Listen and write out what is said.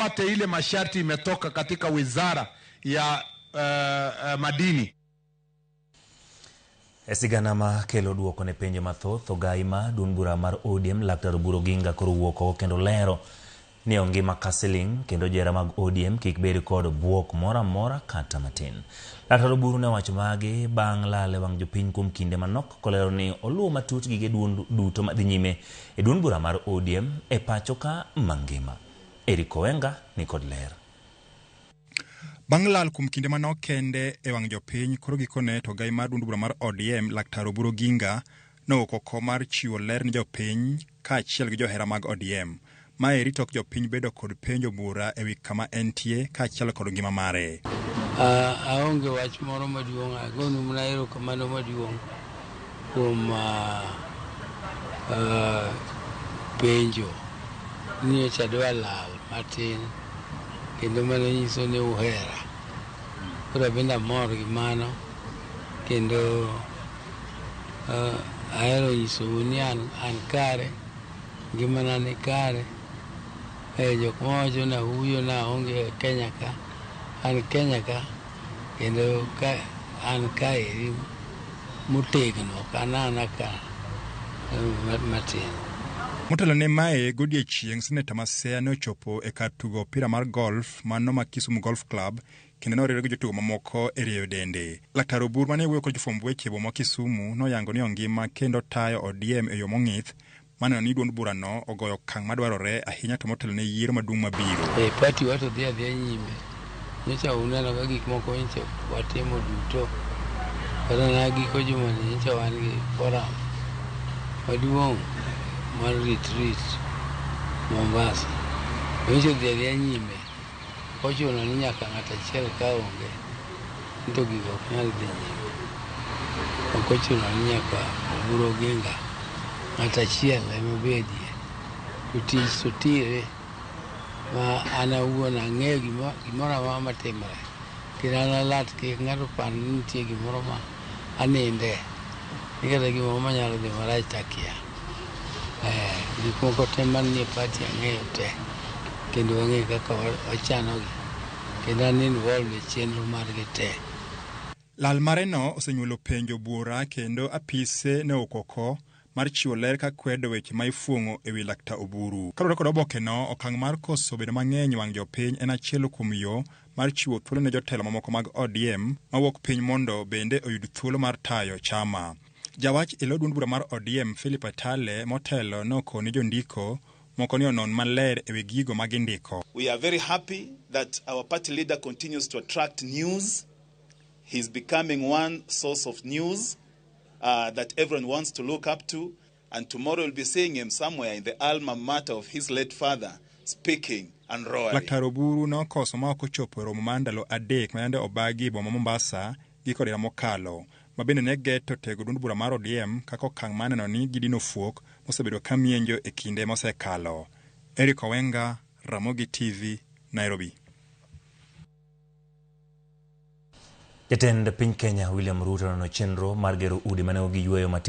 wapate ile masharti imetoka katika wizara ya uh, uh, madini. E sigana ma kelo duoko ne penjo mathoth ogayi ma duond bura mar ODM Laktar Oburu Oginga koro wuok oko kendo lero ni ongima ka siling kendo jera mag ODM kik bed kod buok moro amora kata matin. Laktar Oburu ne wacho magi bang' lale wang' jopiny kuom kinde manok kolero ni oluwo matut gige duond duto madhi nyime e duond bura mar ODM e pachoka mangima. Eric Owenga ni kod ler. Bang' lal kuom kinde manok kende e wang' jopiny, koro gikone to ogai mar duond bura mar ODM Laktar Oburu Oginga nowuok oko mar chiwo ler ne jopiny kaachiel gi johera mag ODM. Mae rito ok jopiny bedo kod penjo bura ewi kama entie kaachiel kod ngima mare. Aonge wach moro maduong', agonu mana erokamano maduong'. kuom penjo ni nyocha adwa lal matin kendo mano nyiso ni uhera. Koro abende amor gi mano kendo ahero nyisou ni an kare, ngimana ni kare. Jok mawacho ni ahuyo ni aonge Kenya ka, an Kenya ka. Kendo ka an kaeri motegno kanana ka matin. Motelo ne mae, godiechieng' Seneta Maseya ne ochopo e kar tugo opira mar golf ma Noma Kisumu Golf Club kendo ne oriwre gi jotugo mamoko e rieyo dende. Laktar Obur ma ne wuoyo kod jofwamb weche e boma ma Kisumu noyango ni ongima kendo tayo ODM e yo mong'ith maneno ni duond bura no ogoyo okang' madwarore ahinya to motelo ne yiero maduong' mabiro. E eh, pati wa to dhi adhiya nyime. Nyocha uneno ka gik moko nyocha watimo duto. Kata na giko jumani nyocha wan gi forum maduong' mar retreat Mombasa. Nyocha dhi adhiya nyime. Ochuno ni nyaka ng'at achiel ka onge to gigo ok nyal dhi nyime. Ok ochuno ni nyaka oburu oginga ng'at achiel ema obedie to tich to tire ma an awuon ang'eyo gimoro amora matimore kendo an alat kik ng'ato opar ni nitie gimoro ma aninde nikech gimoro manyalo dhi marach to akia. Eh, gik moko te manie pachi ang'eyo te kendo ang'eyo kaka wa- wachanogi kendo an involved e chenro margi te. Lal mareno osenyuolo penjo buora kendo apise ne okoko mar chiwo ler ka kwedo weche ma ifuong'o e wi Lakta Oburu. Kaluwore kod obokeno, okang' mar koso bedo mang'eny wang' jopiny en achiel kuom yo mar chiwo thuolo ne jotelo mamoko mag ODM mawuok piny mondo bende oyud thuolo mar tayo chama. Jawach e lo duond bura mar ODM Philip Atale motelo noko ne jondiko moko ni onon maler e wi gigo ma gindiko. We are very happy that our party leader continues to attract news. He is becoming one source of news uh, that everyone wants to look up to. And tomorrow you'll be seeing him somewhere in the alma mater of his late father speaking and roaring. Laktar Oburu nokoso ma ok ochopo e romo mar ndalo adek ma yande obagi e boma Mombasa giko dira mokalo ma bende ne geto tego duond bura mar ODM kaka okang' ma neno ni gidino fuok mosebedo ka mienjo e kinde mosekalo. Eric Owenga, Ramogi TV, Nairobi. Jatend piny Kenya William Ruto nono chenro mar gero udi mane ogi yueyo matimo